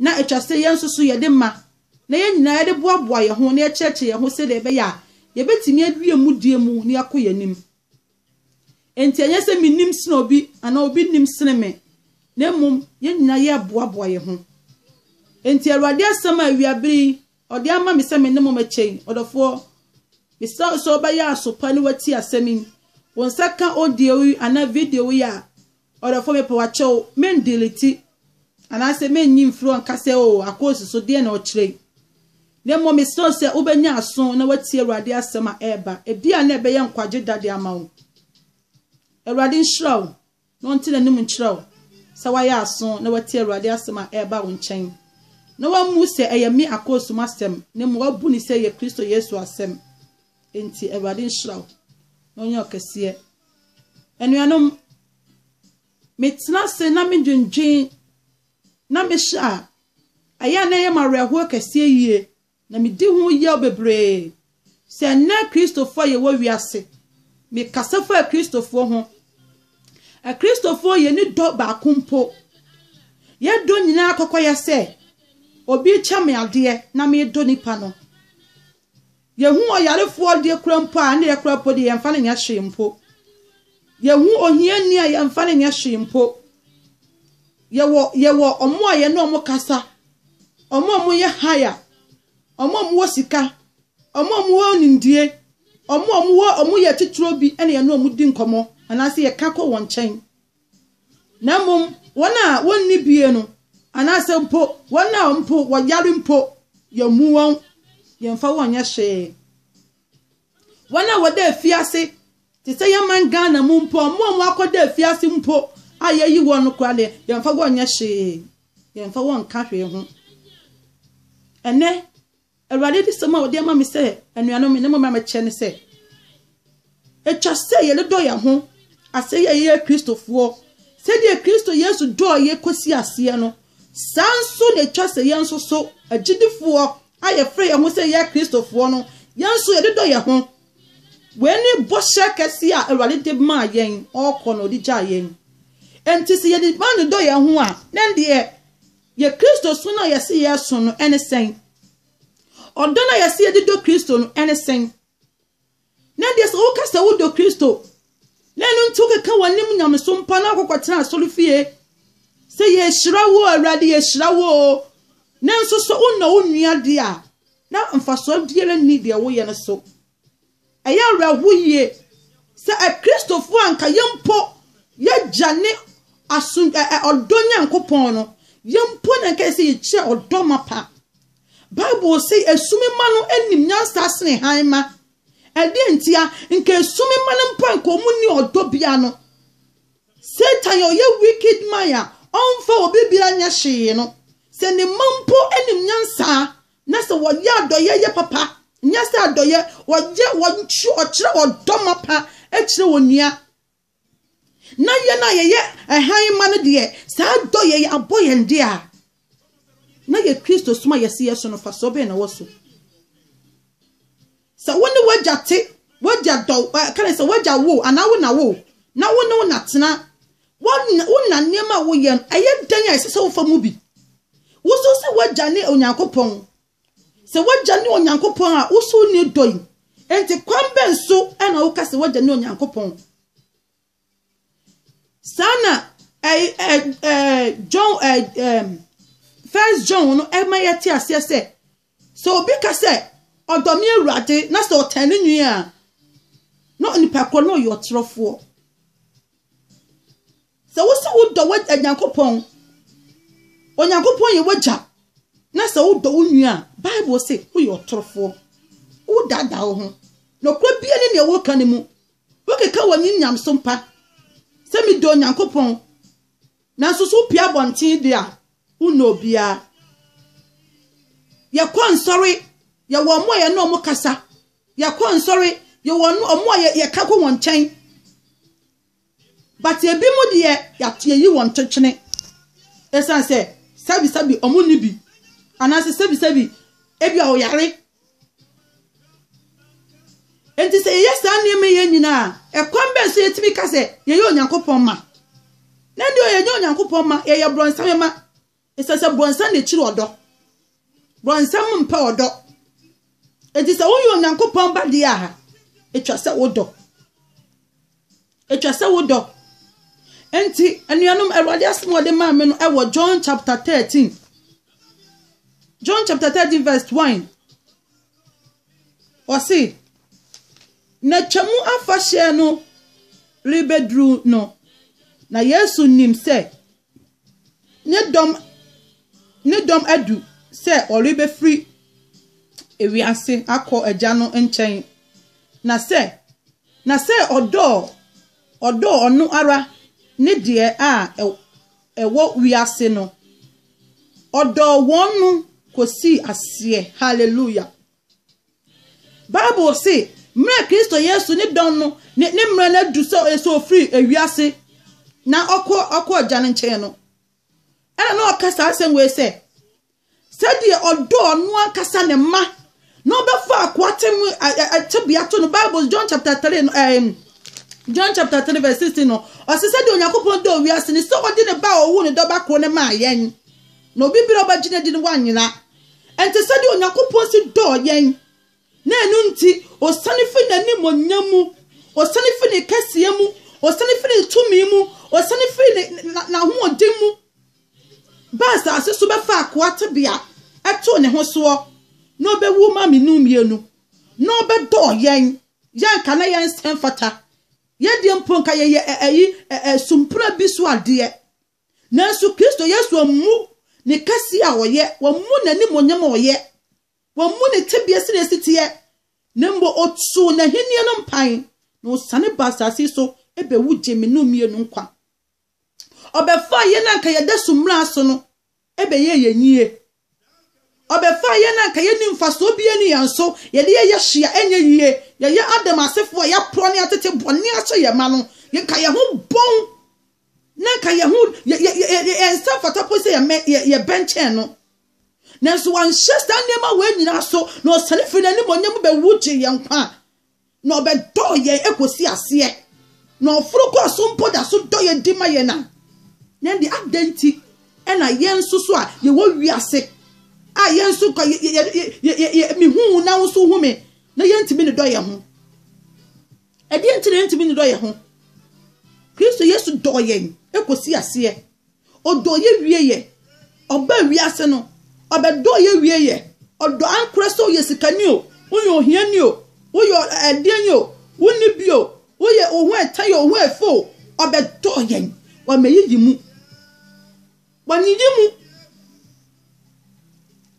Ná ɛtwa sɛ yɛn nso so yɛde ma, na yɛn nyinaa yɛde boaboa yɛn ho na yɛkyerɛkyerɛ yɛn ho sɛnea ɛbɛyɛ a yebetumi awie mudie mu na yɛakɔ yɛn anim. Enti ɛnyɛ sɛ minim sen obi anaa obi nim sen me, na mmom yɛn nyinaa yɛreboaboa yɛn ho. Enti Awurade asɛm a awia bere yi ɔde ama me sɛ me ne mo mmɛkyɛ yi, ɔdɔfoɔ, mesrɛ wo sɛ wobɛyɛ aso pa na woatie asɛm yi. Wo nsa ka audio yi anaa video yi a, Ɔdɔfo mepɛ wakyɛ o men delete anaasɛ men nyi mfiri hɔ nka sɛ oo akoosi so deɛn na ɔkyerɛ yi na mmom mesrɛ wo sɛ wobɛnya aso na watie Awurade asɛm a ɛreba ebi a na ɛbɛyɛ nkwagye da de ama wo Awurade nhyira wo na ɔnte n'anim nkyerɛ wo sɛ wayɛ aso na watie Awurade asɛm a ɛreba wo nkyɛn na wammu sɛ ɛyɛ me akoosi mu asɛm na mmom wabu no sɛ ɛyɛ Kristo Yesu asɛm Enti Awurade nhyira wo na ɔnyɛ wo kɛseɛ. Anuanom, metena ase na medwendwen na mehyɛ a, ɛyɛ a na ɛyɛ m'awerɛhoɔ kɛseɛ yie na medi ho yaw bebree. Sɛ ɛnnɛ Kristofoɔ a yɛwɔ wiase, mekasa fa Kristofoɔ ho. Akristofoɔ yɛni dɔ baako mpo. Yɛdɔ nyinaa kɔkɔyɛ sɛ obi kyɛ me adeɛ na medɔ nipa no. Yehu ɔyarefoɔ a deɛ kura mpo a, ɛnde yɛkora mpo deɛ, yɛmfa no nyɛ hwee mpo. Yehu ohiani a, yɛmfa no nyɛ hwee mpo. Yɛwɔ, yɛwɔ wɔn a yɛne wɔn kasa, wɔn a wɔyɛ haya, wɔn a wɔwɔ sika, wɔn a wɔwɔ nimdie, wɔn a wɔwɔ, wɔyɛ atitire bi ne yɛne wɔn di nkɔmmɔ, anaasɛ yɛka kɔ wɔn nkyɛn. na mmom wɔn a wɔnni bie no, anaasɛ mpo wɔn a mpo wɔyare mpo, yɛmmu wɔn, yɛmfa wɔn nyɛ hwee. Wɔn a wɔda afiase, te sɛ yɛn man Ghana mu mpo, wɔn a wɔakɔda afiase mpo a yɛyi wɔn no koraa deɛ, yɛmfa wɔn nyɛ hwee, yɛmfa wɔn nka hwee ho. Ɛnɛ, Awurade adiyisɛm a ɔde ama me sɛ anuanom me ne mo mmɛkyɛ ne sɛ atwa sɛ yɛdodɔ yɛn ho asɛ yɛ yɛyɛ kristofoɔ sɛdeɛ kristo yesu dɔɔ yɛ kɔsi aseɛ no saa nso na atwa sɛ yɛn nso so agyidifoɔ a yɛfrɛ yɛn ho sɛ yɛyɛ kristofoɔ no yɛn nso yɛdodɔ yɛn ho wei ne bɔhyɛ kɛse a awurade de maa yɛn ɔkɔ na ɔde gyaa yɛn nti sɛ yɛde ma ne dɔ yɛn ho a na ɛndeɛ Yɛn Kristosom no a yɛse yɛresom no ne sɛn? Ɔdɔ no a yɛse yɛde dɔ Kristo no ne sɛn? Na deɛ sɛ woka sɛ wodɔ Kristo na ɛno nti wokeka w'anim nyamesom pa na wokɔkɔtena asɔrefie sɛ yɛhyira wo Awurade yɛhyira wo nanso sɛ wonnɔ wo nua deɛ a na mfasoɔ biara nni deɛ woyɛ no so. Ɛyɛ awerɛhow yiye sɛ Kristofo a anka yɛn mpo yɛagya ne aso ɛ, ɛ, ɔdɔ Nyankopɔn no, yɛn mpo na anka sɛ yɛkyerɛ ɔdɔ mapa. Bible se esum mma no nim nyansa sene hann mma. Ɛdeɛn ntia? Nka esum mma no mpo anka wɔn nni ɔdɔ bia no. Satan a ɔyɛ wicked man a ɔmfa obi bia nyɛ hwee no, sɛ ne mma mpo nim nyansa Na sɛ wɔyɛ adɔyɛ yɛ papa, nyɛ sɛ adɔyɛ, wɔyɛ wɔnkyerɛ ɔkyerɛ ɔdɔ mapa kyerɛ onua. Na yɛn a yɛyɛ ɛhan mma no deɛ, saa adɔyɛ yi abɔ yɛn de a, na yɛ Kristo som a yɛsi yɛ so no fasoɔ bɛn na wɔ so? Sɛ wo ne w'agya te, w'agya dɔ wo, ɛka ne sɛ w'agya wo anaa wo na wo, na wo ne wo na tena, wo na, wo na nneɛma a woyɛ no, ɛyɛ dɛn a ɛsɛ sɛ wofa mu bi? Wosusu sɛ w'agya ne Onyankopɔn? Sɛ w'agya ne Onyankopɔn a, wosusu ne dɔ yi. Enti kwan bɛn so na woka sɛ w'agya ne Onyankopɔn? Saa na ɛɛ ɛɛ ɛɛ John ɛɛ ɛɛ First John no ma yɛte aseɛ sɛ, sɛ obi ka sɛ, ɔdɔ me awurade na sɛ ɔtɛn ne nwi a, na nipa korɔ no ɔyɛ ɔtorɔfoɔ. Sɛ wosi wodɔ wɔ Onyankopɔn, Onyankopɔn yɛ wagya na sɛ wodɔ wo nwi a, Bible se woyɛ ɔtorɔfoɔ. Wodaadaa wo ho. Nokorɛ biara ne nea woka no mu. Wokeka w'anim nyamesom pa sɛ medɔ Onyankopɔn, nanso sɛ wopue abɔnten de a, wonnɔ obiara. Yɛkɔ nsɔre, yɛwɔ wɔn a yɛne wɔn kasa. Yɛkɔ nsɔre, yɛwɔ wɔn a yɛka kɔ wɔn nkyɛn. But ebi mu deɛ yɛayi wɔn totwene. Ɛsiane sɛ sɛbisɛbi wɔn nni bi, anaasɛ sɛbisɛbi ebi a wɔyare. Enti sɛ yɛyɛ saa nneɛma yɛ nyinaa a, ɛkwan bɛn so yɛtumi ka sɛ yɛyɛ Onyankopɔn ma? Na deɛ yɛnyɛ Onyankopɔn ma, yɛyɛ borɔnsam ma. Ɛsɛ sɛ borɔnsam na ɛkyiri ɔdɔ. Borɔnsam mpɛ ɔdɔ. Enti sɛ woyɛ Onyankopɔn ba deɛ a, ɛtwa sɛ wodɔ. Ɛtwa sɛ wo dɔ. Enti, anuanom, Awurade asɛm wɔde maa me no ɛwɔ John chapter 13. John chapter 13 verse 1. Ɔse, na Twam afahyɛ no rebɛduru no, na Yesu nim sɛ ne dɔm ne dɔm adu sɛ ɔrebɛfiri ewiase akɔ agya no nkyɛn, na sɛ na sɛ ɔdɔɔ ɔdɔɔ ɔno ara ne deɛ a ɛwɔ wiase no, ɔdɔɔ wɔn no kɔsii aseɛ. Hallelujah! Bible se, mmerɛ a Kristo Yesu ne dɔn no ne ne mmerɛ no adu sɛ ɔyɛ sɛ ɔfiri ewiase na ɔkɔ ɔkɔ agya no nkyɛn no, ɛna na ɔka saa asɛm wei sɛ, sɛdeɛ ɔdɔ ɔno ankasa ne mma na ɔbɛfa akoa te mu tebea to no. Bible John chapter 3 no, um, John chapter 3 verse 16 no, ɔse sɛdeɛ Onyankopɔn dɔ wiase ne sɛ ɔde ne ba a ɔwo ne dɔba koro no maa yɛn na obi berɛ ɔbɛgye no adi no wanyera Ɛnte sɛ deɛ Onyankopɔn si dɔɔ yɛn, na ɛno nti ɔsane firi n'animuonyam mu, ɔsane firi ne kɛseɛ mu, ɔsane firi ne tumi mu, ɔsane firi n'ahoɔden mu ba asase so bɛfa akoa tebea ɛtoo ne ho soɔ na ɔbɛwu ma menu mmienu na ɔbɛdɔɔ yɛn yɛ nka na yɛn nsɛm fata yɛdeɛ mpo nka yɛyɛ ɛyi sumpura bi so adeɛ Nanso Kristo Yesu ammu ne kɛseɛ a ɔyɛ, wammu n'animuonyam a ɔyɛ, wammu ne tebea sɛdeɛ ɛsi teɛ, na mmom ɔtoo n'ahennie no mpan, na ɔsiane baa asase yi so bɛwu gyee me ne wo mmienu nkwa. Ɔbɛfaa yɛn a anka yɛda so mmara so no bɛyɛɛ yɛn yie, Ɔbɛfaa yɛn a anka yɛnni mfasoɔ biara nni yɛn so, yɛde yɛn yɛ hye a ɛnyɛ yie, yɛyɛ Adam asefoɔ a yɛaporɔ ne atete bɔne ahyɛ yɛn ma no, anka yɛn ho bɔn na anka yɛn ho, yɛ, yɛ, yɛ, yɛ, yɛn nsa fata po sɛ yɛmɛ, yɛ, yɛbɛnkyɛn no. Nanso wanhyɛ saa nneɛma wei nyinaa so, na ɔsane firi n'animuonyam mu bɛwu gyee yɛn nkwa. na ɔbɛdɔɔ yɛn kɔsi aseɛ, na ɔforo kɔɔ so mpo da so dɔ yɛn di ma yɛn a, na ɛnde adɛn nti ɛna yɛn nso so a yɛwɔ wiase a yɛn nso ka yɛ yɛ yɛ yɛ yɛ mehu wo na wo nso hu me na yɛntumi ne dɔ yɛn ho ɛdeɛ nti na yɛntumi ne dɔ yɛn ho kristo yesu dɔɔ yɛn kɔsi aseɛ Ɔdɔ yɛ wie yɛ. Ɔbaa wiase no ɔbɛ dɔɔ yɛ wie yɛ. Ɔdɔ ankorɛ sɛ woyɛ sikani o, woyɛ ohiani o, woyɛ ɛdeɛn yi o, wonni bi o, woyɛ wo ho ɛtɛn o, wo ho ɛfɛ o, ɔbɛ dɔɔ yɛn. Wama yiyi mu. Wanyiyi mu.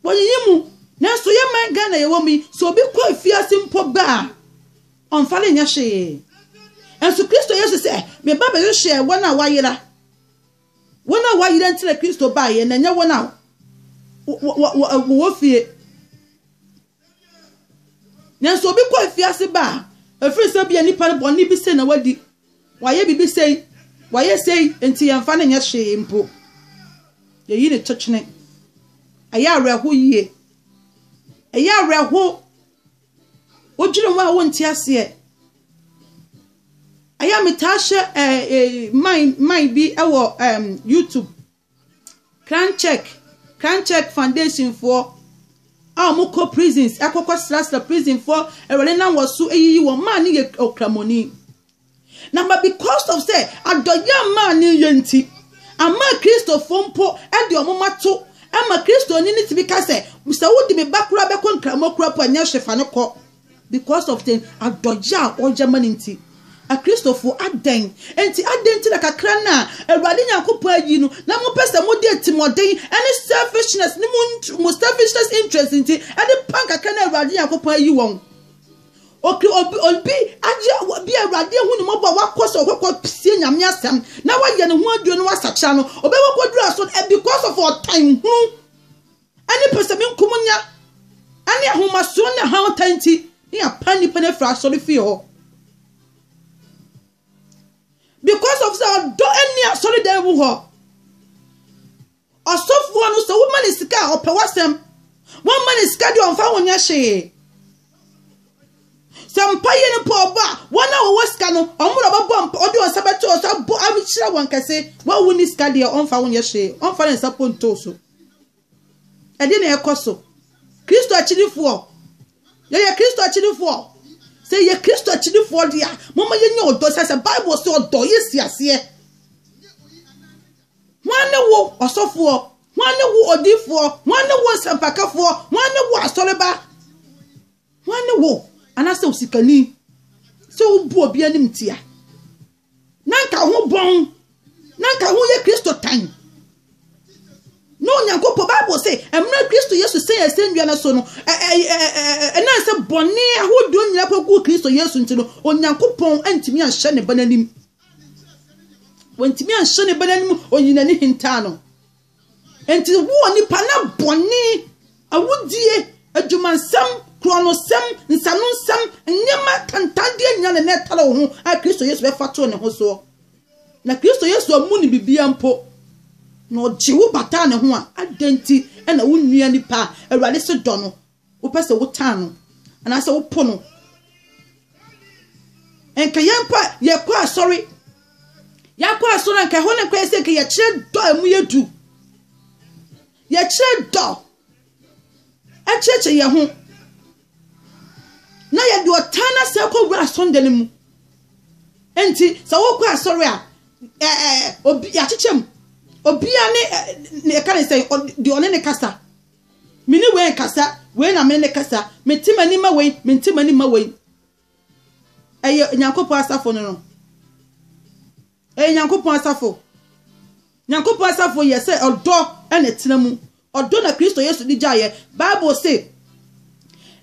Wanyiyi mu. Nanso yɛ man Ghana yɛwɔ mu yi, sɛ obi kɔ afiase mpo ba a, ɔmfa no nyɛ hwee. Nanso Kristo Yesu sɛ, meba bɛhwehwɛ wɔn a wɔayera. Wɔn a wɔayera nti na Kristo baeɛ, na ɛnyɛ wɔn a wɔwɔ fie. Nanso obi kɔ afiase ba a, ɛfiri sɛ bia nipa no bɔne bi sei na wadi, wayɛ biribi sei, wayɛ sei, nti yɛmfa no nyɛ hwee mpo. Yɛyi ne kyekyene. Ɛyɛ awerɛho yie. Ɛyɛ awerɛho. Wodwene wo a wonte aseɛ. Ɛyɛ a metaa hyɛ ɛɛ eh, eh, man man bi wɔ ɛɛm um, YouTube. Crown Check Crown Check Foundation foɔ a wɔn kɔ prisons ɛkɔkɔ srasra prisonfoɔ awurade nam wɔ so eyiyi wɔn maa ne yɛ okramoni Na ma because of sɛ adɔyɛ a Maane yɛ nti, ama Kristofo mpo de wɔn mma to ma Kristoni no tumi ka sɛ, sɛ wode me ba koraa bɛkɔ Nkramo kura mpo a, nyɛ hwe fa no kɔ. Because of the adɔyɛ a ɔyɛ ma no nti. Akristofo, adɛn nti, adɛn nti na kakra no a Awurade Nyankopɔn ayi no na mopɛ sɛ mode atirimmɔden ne selfishness ne mo selfishness interest nti de pan kakra no a Awurade Nyankopɔn ayi wɔn? Oke obi obi agye obi awurade ahu ne mmɔbɔ a wakɔ sɛ ɔkɔkɔ sie nyame asɛm na wayɛ ne ho aduro no wasakyera no ɔbɛkɔ kɔduru aso no eh, because of ɔtan hunu ɛne pɛsɛmi nkumunya ɛne ahomasoɔ ne ha ɔtan nti ne apa nnipa no afiri asɔre fie hɔ because of sɛ ɔdɔ ɛne asɔre dan mu hɔ Ɔsɔfoɔ no, sɛ woma no sika a, ɔpɛ w'asɛm. Womma no sika deɛ, ɔmfa ho nyɛ hwee. Sɛ mpaeɛ no mpo ɔbɔ a, wɔn a wɔwɔ sika no, wɔn na wɔbɛbɔ mpa, wɔde wɔn nsa bɛto wɔn so abɔ ahyira wɔn kɛse. Wo a wonni sika deɛ, ɔmfa ho nyɛ hwee. Ɔmfa ne nsa mpo nto wo so. Ɛdeɛ na ɛkɔ so. Kristo akyirifoɔ, yɛyɛ Kristo akyirifoɔ. Sɛ yɛyɛ Kristo akyirifoɔ deɛ a, momma yɛnyɛ ɔdɔ. Sɛ sɛ Bible sɛ ɔdɔ yɛ si aseɛ. Hwan ne wo, ɔsɔfoɔ? Hwan ne wo, odiyifoɔ? Hwan ne wo, nsɛmpakafoɔ? Hwan ne wo, asɔreba? Hwan ne wo, anaasɛ osikani, sɛ wobu obi animtia? Na anka wo ho bɔn, na anka wo ho yɛ Kristo tan. Na Onyankopɔn, Bible se, mmerɛ Kristo Yesu sɛn asɛnnua no so no, ɛnam sɛ bɔne ahodoɔ nyinaa kɔguu Kristo Yesu nti no, Onyankopɔn antumi anhyɛ ne Ba no anim. Wɔntumi anhyɛ ne ba n'anim, oyi n'ani hintaa no. Enti wo onipa na bɔne, awudie, adwumansɛm, korɔnosɛm, nsanonsɛm, nneɛma tantandeɛ nyinaa na na ɛtare wo ho a Kristo Yesu bɛfa too ne ho soɔ. Na Kristo Yesu ammu ne bibia mpo na ɔgye wo bataa ne ho a, adɛn nti na wo nua nipa a Awurade se dɔ no Wopɛ sɛ wotan no anaasɛ wopo no. Nka yɛn mpo a yɛkɔ asɔre. Yɛakɔ asɔre anka ɛhɔ no nka yɛ sɛ nka yɛkyerɛ dɔ a ɛmu yɛ du. Yɛkyerɛ dɔ kyerɛkyerɛ yɛn ho na yɛde ɔtan no asɛ kɔ wura asɔnda no mu. Nti sɛ wokɔ asɔre a ɛɛ obi yɛakyekyɛ mu. Obiara ne ɛka ne sɛ deɛ ɔne ne kasa. Me ne wei nkasa, wei na me ne no kasa. Mente m'ani mma wei, mente m'ani mma wei. Ɛyɛ Nyankopɔn asafo no no. Ɛyɛ Nyankopɔn asafo. Nyankopɔn asafo yɛ sɛ ɔdɔ na ɛtena mu. Ɔdɔ na Kristo Yesu de gyaeɛ. Bible se,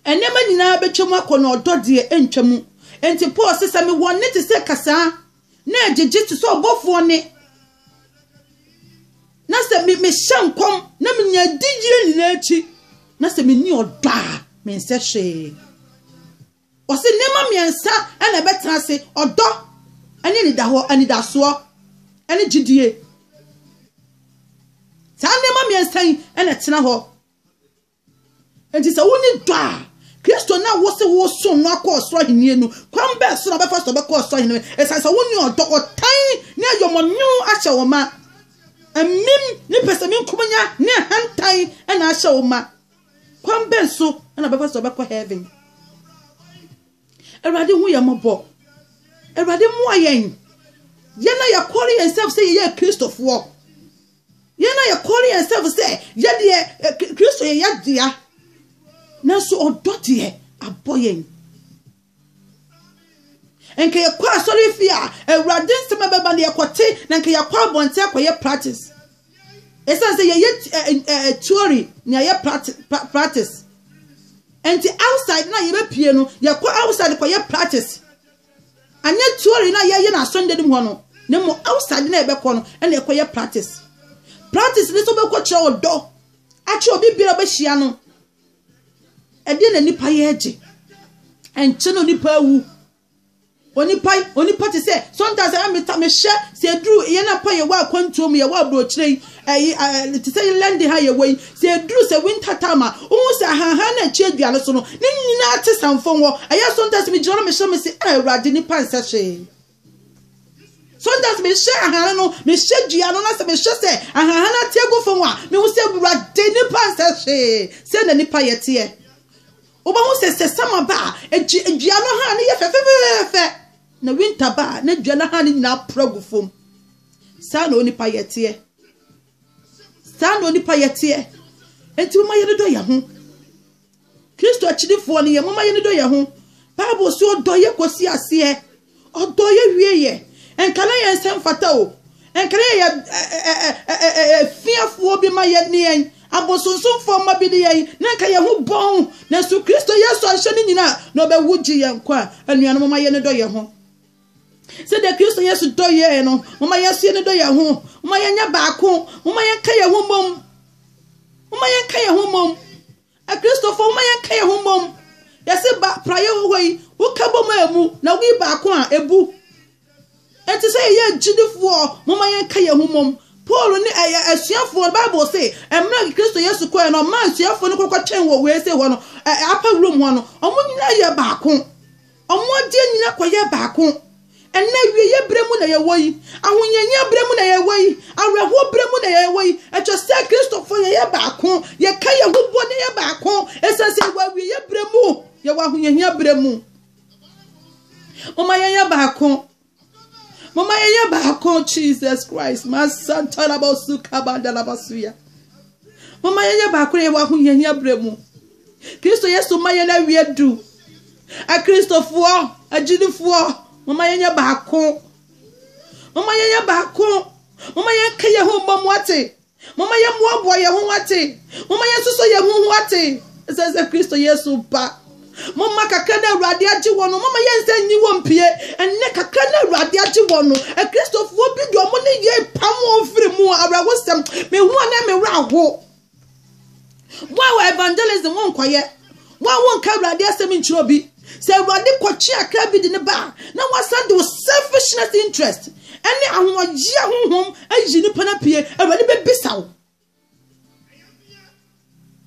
nneɛma nyinaa bɛtwa mu akɔ na ɔdɔ deɛ ɛntwa mu. Enti Paul se, sɛ mewɔ nne te sɛ kasaa Na ɛgyegye te sɛ ɔbɔfoɔ nne. Na sɛ me mehyɛ nkɔm na menya adiyie nyinaa akyi na sɛ menni ɔdɔ a mensɛ hwee. Ɔse nneɛma mmiɛnsa na ɛbɛtena ase, ɔdɔ ne anidahɔ, anidasoɔ ne gyidie. Saa nneɛma mmiɛnsa yi na ɛtena hɔ. Enti sɛ wonni dɔ a, Kristo no a wose woresom no akɔ ɔsoro ahenni no, kwan bɛn so na ɔbɛfa so ɔbɛkɔ ɔsoro ahenni no? Esiane sɛ wonni ɔdɔ, ɔtan, ne ayɔmɔnyew ahyɛ wo ma. Amim ne pɛsɛmenkominya ne ahantan na ahyɛ wo ma. Kwan bɛn so na ɔbɛfa so ɔbɛkɔ heaven? Awurade hu yɛn mmɔbɔ. Awurade mmoa yɛn. Yɛn a yɛkɔre yɛn nsam sɛ yɛyɛ Kristofoɔ. Yɛn na yɛkɔre yɛn sɛfo sɛ yɛ deɛ Kristo yɛ yɛ dea nanso ɔdɔ deɛ abɔ yɛn. Nka yɛkɔ asɔre fie a awurade nsɛm a bɛba no yɛkɔte na nka yɛakɔ abɔnten akɔyɛ practice. Ɛsiane sɛ yɛyɛ theory na yɛyɛ practice nti outside na yɛbɛpie no yɛkɔ outside kɔyɛ practice. anyɛ theory na yɛyɛ no asɔnda no mu hɔ no na mmom outside na yɛbɛkɔ no ɛna ɛkɔyɛ practice practice ne sɛ wobɛkɔ kyerɛ ɔdɔ akyerɛ obi biara bɛhyia no ɛdeɛ na nipa yɛ agye ɛnkyɛ no nipa awu onipa onipa te sɛ sometimes ɛmɛ meta mehyɛ sɛ aduru yɛn na mpa yɛwɔ akwantuo mu yɛwɔ aburokyerɛ yi ɛyi ɛɛ te sɛ inland ha yɛ wɔ yi sɛ eduru sɛ winter time a ohun sɛ ahanhan na ɛkyɛ dua no so no ne nyinaa te sanfon hɔ ɛyɛ sometimes mi gyina no mi hyɛ mi se ɛɛ awurade nipa nsɛ hwee sometimes mi hyɛ ahanhan no mi hyɛ dua no na sɛ mi hyɛ sɛ ahanhan na te egu fam a mi hu sɛ awurade nipa nsɛ hwee sɛ na nipa yɛ teɛ wobɛhu sɛ sɛ sama ba a egye dua no ha ne yɛ fɛfɛfɛfɛ na winter ba a na dua no ha ne nyinaa pura gu fam. saa na onipa yɛ teɛ saa na onipa yɛ teɛ nti moma yɛn dɔ yɛn ho kristo akyirifoɔ no yɛ moma yɛn dɔ yɛn ho bible so ɔdɔ yɛ kɔsi aseɛ ɔdɔ yɛ wie yɛ nka na yɛn nsɛm fata o nka na yɛ fiafoɔ bi ma yɛ ne yɛn abosonsomfoɔ ma bi ne yɛn na nka yɛn ho bɔn nanso kristo yesu anhyɛ ne nyina na ɔbɛwu gye yɛn nkwa anuanom moma yɛn dɔ yɛn ho sɛdeɛ kristo yesu dɔ yɛn no moma yɛn nso yɛne dɔ yɛn ho moma yɛnyɛ baako moma yɛnka yɛn ho mmom moma yɛnka yɛn ho mmom akristofo moma yɛnka yɛn ho mmom yɛse ba praeɛ wɔ hɔ yi woka bom a ɛmu na woyi baako a ɛbu ɛnti sɛ yɛyɛ agyidifoɔ moma yɛnka yɛn ho mmom paul ne ɛyɛ asuafoɔ bible se mmerɛ kristo yesu kɔɛ no ɔma asuafoɔ no kɔkɔtwɛn wɔ wei se hɔ no apawurom hɔ no ɔmo nyinaa yɛ baako Wɔn adeɛ nyina kɔyɛɛ baako. Ɛnnɛ, awieɛ berɛ mu na yɛwɔ yi. Ahohiahia berɛ mu na yɛwɔ yi. Awerɛhoɔ berɛ mu na yɛwɔ yi. Ɛkyerɛ sɛ Kristofoɔ yɛyɛ baako. Yɛka yɛn ho bɔ na yɛyɛ baako. Ɛsiane sɛ yɛwɔ awieɛ berɛ mu. Yɛwɔ ahohiahia berɛ mu. Momma yɛnyɛ baako. Mama yɛyɛ baako Jesus Christ. Masantarabosu kabandalabasuya. Mama yɛyɛ baako yɛ wɔ ahohiahia berɛ mu. Kristo Yesu ma yɛn awie du. Akristofoɔ, agyidifoɔ, mama yɛnyɛ baako. Mama yɛnyɛ baako. Mama yɛnka yɛn ho mmɔ mu ate. Momma yɛmmoaboa yɛn ho ate. Momma yɛnsosɔ yɛn ho ho ate. Ɛsɛ sɛ Kristo Yesu ba. Momma kakra na Awurade agye wɔn no, momma yɛnsan nyi wɔn pie. Ɛnnɛ kakra na Awurade agye wɔn no, Akristofoɔ bi deɛ wɔn ne yɛn pam wɔn firi mu awerɛhosɛm. Mehu a na me werɛ aho. Wo a wɔ evangelism wo nkɔyɛ. Wo a wo nka awurade asɛm nkyerɛ obi. Sɛ awurade kɔkye akra bi de ne ba a, na wasan de wo selfishness interest ɛne ahoɔyea honhom ayi nipa no apue. Awurade bɛbisa wo.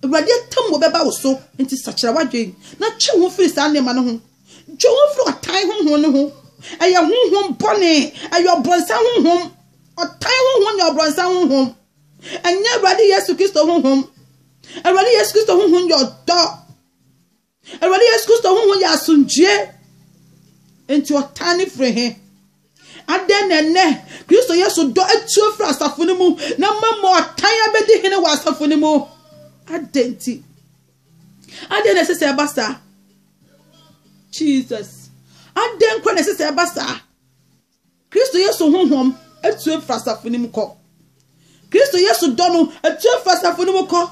Awurade atam wɔ bɛba wo so. Nti sakyera wadwen na twe ho firi saa nneɛma no ho. Twe ho firi ɔtan honhom no ho. Ɛyɛ honhom bɔne. Ɛyɛ ɔbrɔnsa honhom. Ɔtan honhom yɛ ɔbrɔnsa honhom. Ɛnyɛ Awurade Yesu Kristo honhom. Awurade Yesu Kristo honhom yɛ ɔdɔ. Awurade Yesu Kristo honhom yɛ asomdwoe. Nti ɔtaa ne firi he. Adɛn na ɛnɛ Kristo Yesu dɔ atuo firi asafo no mu na mmom ɔtan abɛdi hene wɔ asafo no mu? Adɛn nti? Adɛn na ɛsɛ sɛ ɛba saa? Jesus. Adɛn kora na ɛsɛ sɛ ɛba saa? Kristo Yesu honhom tue firi asafo no mu kɔ. Kristo Yesu dɔ no tue firi asafo no mu kɔ.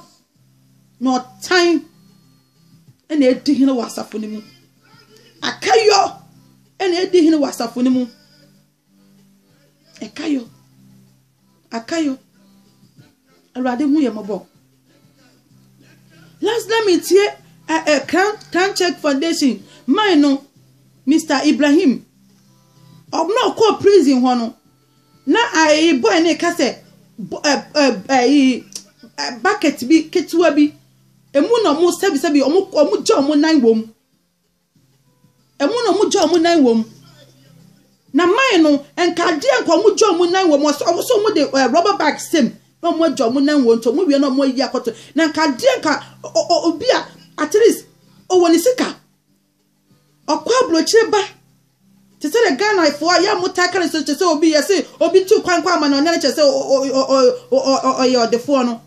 Na ɔtan na edi hene wɔ asafo no mu. Akayɔ na edi hene wɔ asafo no mu. Ɛkayɔ. Akayo, Awurade hu yɛ mɔbɔ. Last na metie ɛ ɛ Crown Crown Check Foundation man no Mr Ibrahim ɔbɛn ɔkɔ prison hɔ no na ayi boy ne ka sɛ ɛ ɛ ayi bucket bi ketewa bi emu na ɔmo sɛbi sɛbi ɔmo ɔmo gya ɔmo nan wɔm. Emu na wɔn gya wɔn nan wɔ mu. Na mine no, nka adeɛ nka wɔn gya wɔn nan wɔ mu. Wɔn nso wɔn de ɛɛ rubber bag sɛm na wɔn agya wɔn nan wɔ nti wɔn wie na wɔn ayi akɔto. Na nka adeɛ nka obi a at least ɔwɔ ne sika. Ɔkɔ aburokyire ba. Te sɛ de Ghana fo a yɛ wɔn taa kari so te sɛ obi yɛ se obi tu kwan kɔ ama na ɔnyɛ ne kyɛ sɛ ɔyɛ ɔdefoɔ no.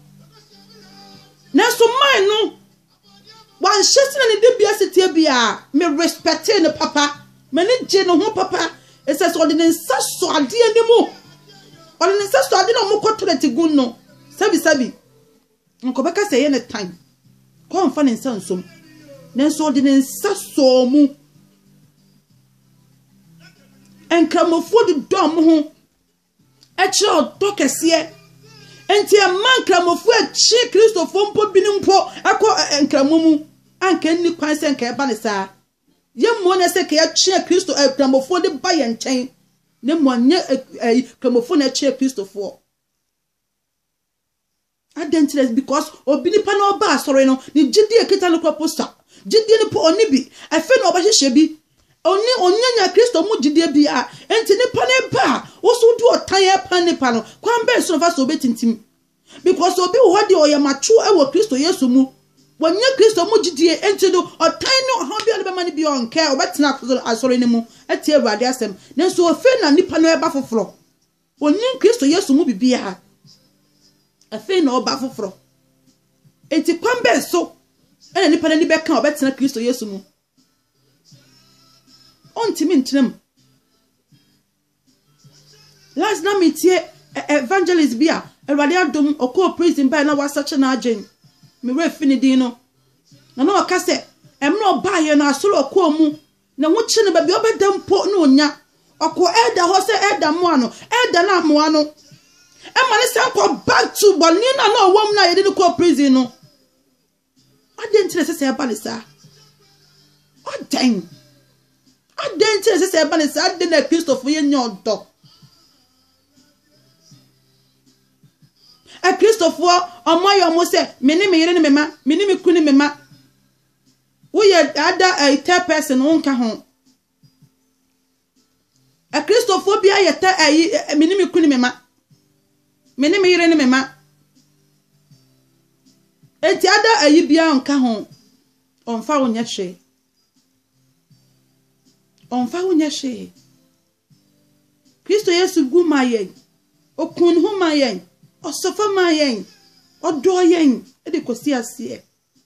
Nanso mine no Wanhyɛ sɛ na ne dibea si teɛ biara. Me respectee no papa. M'ani gyee ne ho papa. Ɛsɛ sɛ ɔde ne nsa sɔ adeɛ no mu. Ɔde ne nsa sɔ adeɛ na ɔmo kɔ toilet gu no. Sɛbi sɛbi. Nka ɔbɛka sɛ ɛyɛ ne tan. Kɔ nfa ne nsa nsom. Nanso ɔde ne nsa sɔɔ mu. Nkramofoɔ dodɔ ɔmo ho. Ɛkyerɛ ɔdɔ kɛseɛ. Enti ɛmma Nkramofoɔ akyi Kristofoɔ mpo binom mpo kɔ Nkramo mu. Anka ɛnni kwan sɛ anka ɛba no saa. Yɛn mmom na ɛsɛ sɛ anka yɛtwe Akristo, Nkramofoɔ de ba yɛn nkyɛn, na mmom anyɛ Nkramofoɔ na ɛtwe Akristofoɔ. Adɛn nti na because obi nipa na ɔba asɔre no, ne gyidie a ɛkita no kora po sua? Gyidie no po, ɔnni bi. Afei na ɔbɛhyehyɛ bi. Ɔnni, ɔnnya nyaa Kristo mu gyidie biara. Enti nipa no reba a, wo nso wode ɔtan repan nipa no. Kwan bɛn so na ɔfa so ɔbɛtintim? Because obi wɔ hɔ deɛ ɔyɛ mature wɔ Kristo Yesu mu. Wanya Kristo mu gyidie, enti no ɔtan ne ɔhaw biara na ɛbɛma no biara ɔnkɛ, ɔbɛtena asɔre no mu atie Awurade asɛm. Nanso afei na nipa no reba foforɔ. Ɔnim Kristo Yesu mu biribiara. Afei na ɔba foforɔ. Enti kwan bɛn so na nipa n'ani bɛka a ɔbɛtena Kristo Yesu mu? Ɔntumi ntena mu. Last na metie evangelist bi a Awurade adom ɔkɔɔ prison bae na wasakye n'adwen. Me werɛ fi ne din no. Na na ɔka sɛ mmerɛ ɔbaeɛ no asɔre ɔkɔɔ mu Ne ho kye no, baabi a ɔbɛda mpo na onnya. Ɔkɔ Elder hɔ sɛ Elder mmoa no, Elder no ammoa no. Ɛma no san kɔ back to bɔne no a na ɔwɔ mu no a yɛde no kɔɔ prison no. Adɛn nti na ɛsɛ sɛ ɛba no saa? Adɛn? Adɛn nti na ɛsɛ sɛ ɛba no saa? Adɛn na Kristofo yɛnyɛ ɔdɔ? Akristofoɔ wɔayɛ wɔn sɛ me ne me yere ne me mma, me ne me kunu ne me mma. Wo yɛ ada a third person wo nka ho. Akristofoɔ bi ayɛ ta ayi me ne me kunu me ma. Me ne me yere ne me ma. Enti ada ayi biara nka ho. Ɔmfa wo nyɛ hwee. Ɔmfa wo nyɛ hwee. Kristo Yesu gu ma yɛn. Ɔkuu ne ho ma yɛn. Ɔsɔfɔ ma yɛn. Ɔdɔɔ yɛn de kɔsi aseɛ.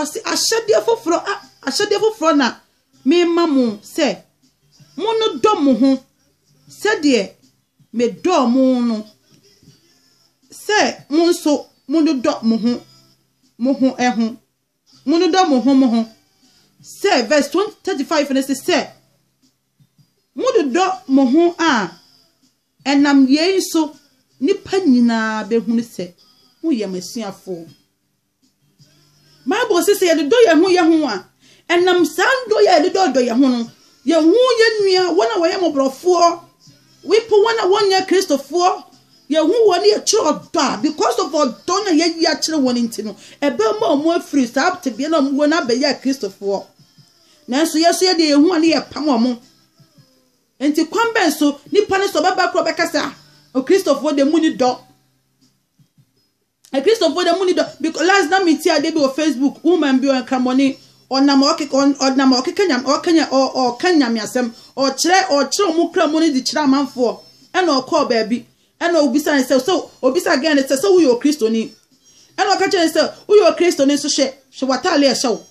Ɔse, Ahyɛdeɛ foforɔ, ahyɛdeɛ foforɔ na mema mo sɛ, monnodɔ mo ho sɛdeɛ medɔɔ mo no, sɛ mo nso monnodɔ mo ho mo ho ho. Monnodɔ mo ho mo ho. Sɛ, verse 35 no se sɛ, mododɔ mo ho a, ɛnam yei so nnipa nyinaa bɛhunu sɛ moyɛ m'asuafoɔ. Bible se sɛ yɛdodɔ yɛn ho yɛn ho a, ɛnam saa dɔ yɛ a yɛdodɔdɔ yɛn ho no, yɛhu yɛn nua wɔn a wɔyɛ mmɔborɔfoɔ, wipo wɔn a wɔnyɛ Kristofoɔ, yɛhu wɔn ne yɛkyerɛ ɔdɔ a because of ɔdɔ na yɛyi akyerɛ wɔn nti no, ɛbɛma wɔn afiri saa tebea na wɔn wɔ no abɛyɛ Kristofoɔ. Nanso yɛn nso yɛdeɛ yɛhu a ne yɛpam wɔn. Nti kwan bɛn so nipa no sɛ ɔbɛba korɔ bɛka sɛ a Kristofoɔ deɛ mu ni dɔ. Akristofo de munni dɔ because last na me ti ade bi wɔ Facebook woman bi ɔyɛ nkramɔne ɔnam ɔkeka ɔnam ɔkeka nyam ɔkanya ɔka nyame asɛm ɔkyerɛ ɔkyerɛ ɔmo kra mu ne de kyerɛ amanfoɔ ɛna ɔkɔɔ baabi ɛna obisa ne sɛ sɛ obisa gɛn ne sɛ sɛ woyɛ okristoni ɛna ɔka kyerɛ ne sɛ woyɛ okristoni nso hwɛ hwɛ wataale ɛhyɛ wo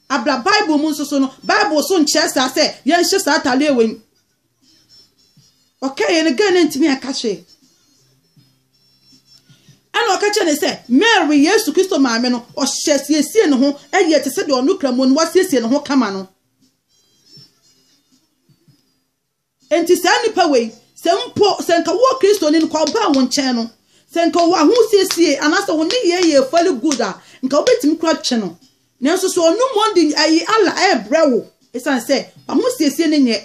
abla bible mu nso so no bible so nkyerɛ saa sɛ yɛnhyɛ saa ataale wei ɔkaeɛ no ghana ntumi anka hwee ɛna ɔka kyerɛ ne sɛ mary yesu kristo maame no ɔhyɛ siesie ne ho ɛyɛ te sɛ deɛ ɔno kra mu no wasiesie ne ho kama no nti saa nipa wei sɛ mpo sɛ nka wɔ kristo ni no kɔ ɔbaa wo nkyɛn no sɛ nka wɔ ahosiesie anaasɛ wo ne yɛ yɛ fali good a nka wobɛtumi kora twe no Nanso sɛ ɔno mmom de ayi Allah rebrɛ wo esiane sɛ w'ahosiesie no nyɛ.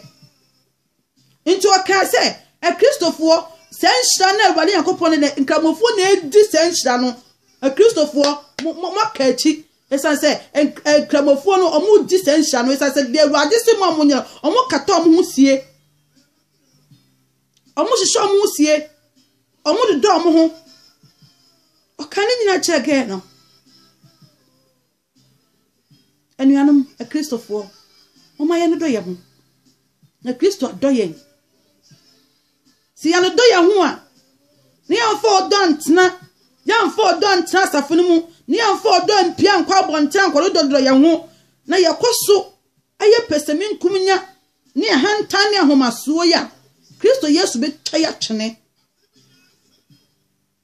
Enti ɔkaa sɛ, Akristofoɔ, saa nhyira no a Awurade Nyankopɔn ne ne Nkramofoɔ na edi saa nhyira no, Akristofoɔ, mo, mo, moaka akyi, esiane sɛ Nkramofoɔ no, wɔredi saa nhyira no, esiane sɛ deɛ Awurade se mo a monyɛ no, wɔkata wɔn ho sie. Wɔhyehyɛ wɔn ho sie, wɔdodɔ wɔn ho. Ɔka ne nyinaa kyerɛ gɛɛ no. Anuanom Akristofoɔ, wɔma yɛn dodɔ yɛn ho. Na Kristo adɔ yɛn. Sɛ yɛdodɔ yɛn ho a, na yɛmfa ɔdɔ ntena, yɛmfa ɔdɔ ntena asafo no mu, na yɛmfa ɔdɔ mpia nkɔ abɔnten ankɔdodɔdodɔ yɛn ho, na yɛkɔ so ayɛ pɛsɛmenkominya ne ahantan ne ahomasoɔ yi a Kristo Yesu bɛtwa yi atwene,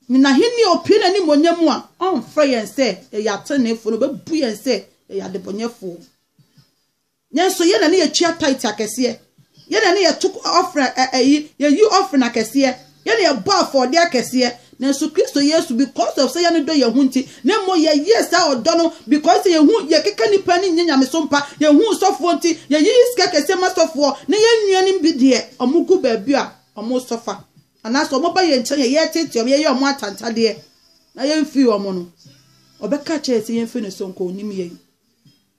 ne n'ahenni a ɔpue n'animuonyam mu a ɔmfrɛ yɛn sɛ yɛyɛ ateneneefoɔ no ɔbɛbu yɛn sɛ yɛyɛ adebɔnyɛfoɔ. Yɛn nso yɛn na ne yɛtua taite akɛseɛ, yɛn na ne yɛto ɔfrɛ ɛyi yɛyi ɔfrɛ akɛseɛ. Yɛn na yɛbɔɔ afɔdeɛ akɛseɛ, nanso Kristo Yesu, because of sɛ yɛn no dɔ yɛn ho nti, na mmom yɛyɛɛ saa ɔdɔ no because sɛ yɛhu yɛkeka nnipa ani nyɛ nyamesom pa, yɛhu sɔfoɔ nti, yɛyiyi sika kɛseɛ ma sɔfoɔ, na yɛn nuanom bi deɛ, wɔn gu baabi a wɔn sɔfa, anaasɛ wɔn ba yɛn nkyɛn a, yɛteetee wɔn, yɛyɛ wɔn atantadeɛ, na yɛn mfiri wɔn no, ɔbɛka akyerɛ yɛn sɛ yɛn firi ne so nkɔ, ɔnim yɛn.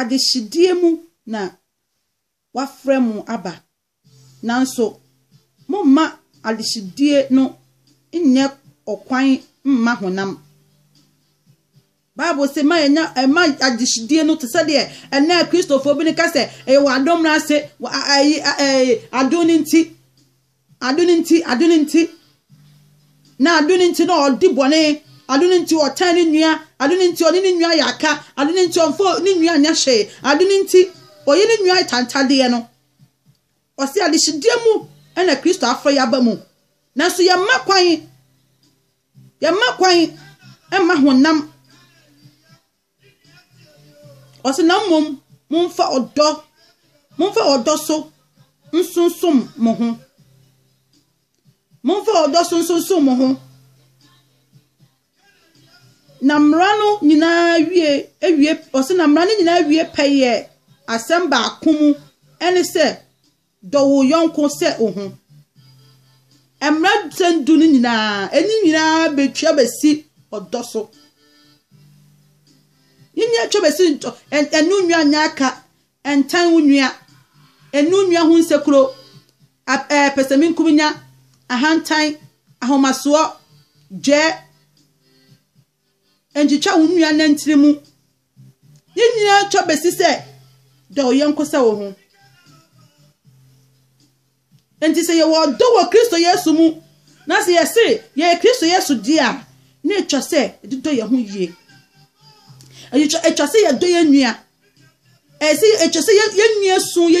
Adehyedeɛ mu na wɔafrɛ mo aba, nanso momma adehyedeɛ no nnyɛ ɔkwan mma honam. Bible se ma yɛnya ɛma adehyedeɛ no te sɛ deɛ ɛnɛ Kristofoɔ bi no ka sɛ ɛyɛ wɔ adom no ase, wɔ ayi adom no nti. Adwene nti, adwene nti, na adwene nti na ɔdi bɔne, adwene nti ɔtan ne nua, adwene nti ɔne ne nua yɛ aka, adwene nti ɔmfa ne nua nyɛ hwee, adwene nti ɔyɛ ne nua atantadeɛ no. Ɔse adehyedeɛ mu na Kristo afrɛ yɛ aba mu, nanso yɛmma kwan, yɛmma kwan mma honam Ɔse na mmom momfa ɔdɔ, momfa ɔdɔ so nsonsom mo ho. Momfa ɔdɔ so nsonsom mo ho. Na mmara no nyinaa wie, ewie, ɔse na mmara no nyinaa wie pɛyɛ asɛm baako mu, ɛne sɛ Dɔ wo yɔnko sɛ wo ho. Mmara nsɛm du no nyinaa, ɛne nyinaa bɛtwa bɛsi ɔdɔ so. Ne nyinaa twa bɛsi ntɔ, ɛne onua nyɛ aka, ɛntan wo nua, ɛne onua ho nsekuro, pɛsɛmenkominya, ahantan, ahomasoɔ, dwɛ, Nkyekyɛ wo nua nantin mu. Yɛn nyinaa atwa besi sɛ dɔ wo yɔnko sɛ wo ho. Enti sɛ yɛwɔ ɔdɔ wɔ Kristo Yesu mu na sɛ yɛse yɛyɛ Kristo Yesu deɛ a, na atwa sɛ yɛde dɔ yɛn ho yie. Atwa sɛ yɛdɔ yɛn nua. Ɛsɛ atwa sɛ yɛn nua su yɛ